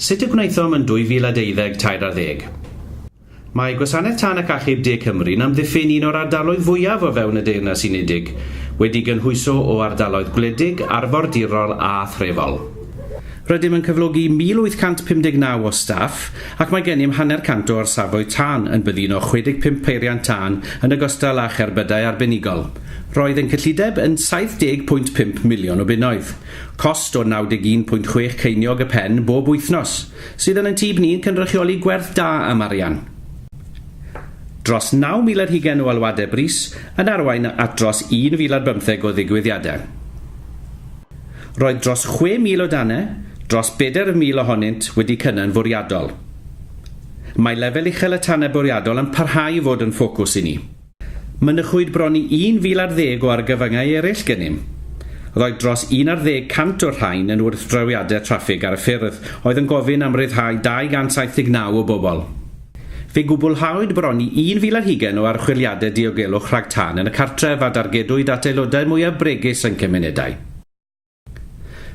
Sut y gwnaethom yn 2012 tair ar ddeg? Mae Gwasanaeth Tân ac Achub De Cymru yn amddiffyn un o'r ardaloedd fwyaf o fewn y Deyrnas Unedig, wedi gynhwyso o ardaloedd gwledig, arfordirol a threfol. Rydym yn cyflogi 1,859 o staff ac mae gennym hanner cant o orsafoedd tân yn bydduno 65 peiriant tân yn ogystal â cherbydau arbenigol. Roedd ein cyllideb yn 70.5 miliwn o bunnoedd. Cost o 91.6 ceiniog y pen bob wythnos, sydd yn ein tyb ni yn cynrychioli gwerth da am arian. Dros 9,000 ar hugain o alwadau brys yn arwain at dros 1,000 ar bymtheg o ddigwyddiadau. Roedd dros 6,000 o danau, dros bedair yr mil ohonynt wedi cynnu'n fwriadol. Mae lefel uchel y tanau bwriadol yn parhau i fod yn ffocws i ni. Mynychwyd bron i 1,000 ar ddeg o argyfyngau eraill gennym. Roedd dros un ar ddeg cant o'r rhain yn wrthdrawiadau traffig ar y ffyrdd, oedd yn gofyn am ryddhau 279 o bobl. Fe gwblhawyd bron i 1,000 ar hugain o archwiliadau diogelwch rhag tân yn y cartref a dargedwyd at aelodau mwyaf bregus ein cymunedau.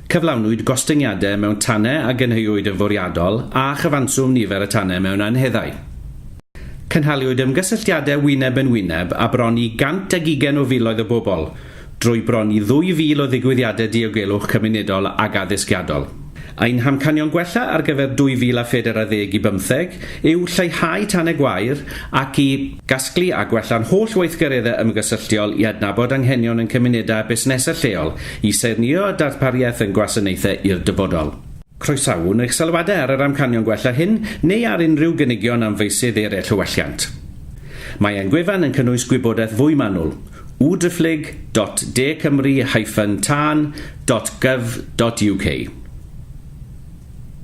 Cyflawnwyd gostyngiadau mewn tanau a gynhaewyd yn fwriadol a chyfanswm nifer y tanau mewn anheddau. Cynhaliwyd ymgysylltiadau wyneb yn wyneb â bron i 120 o filoedd o bobl drwy bron i 2,000 o ddigwyddiadau diogelwch cymunedol ac addysgiadol. Ein hamcanion gwella ar gyfer 2014 i bymtheg yw lleihau tanau gwair ac i Casglu a gwella'n holl weithgareddau ymgysylltiol i adnabod anghenion ein cymunedau a busnesau lleol, i saernïo a darpariaeth ein gwasanaethau i'r dyfodol. Croesawn eich sylwadau ar yr amcanion gwella hyn neu ar unrhyw gynigion am feysydd eraill o welliant. Mae ein gwefan yn cynnwys gwybodaeth fwy manwl, www-dryfflyg dot de cymru hyphen tân dot gyf dot uk.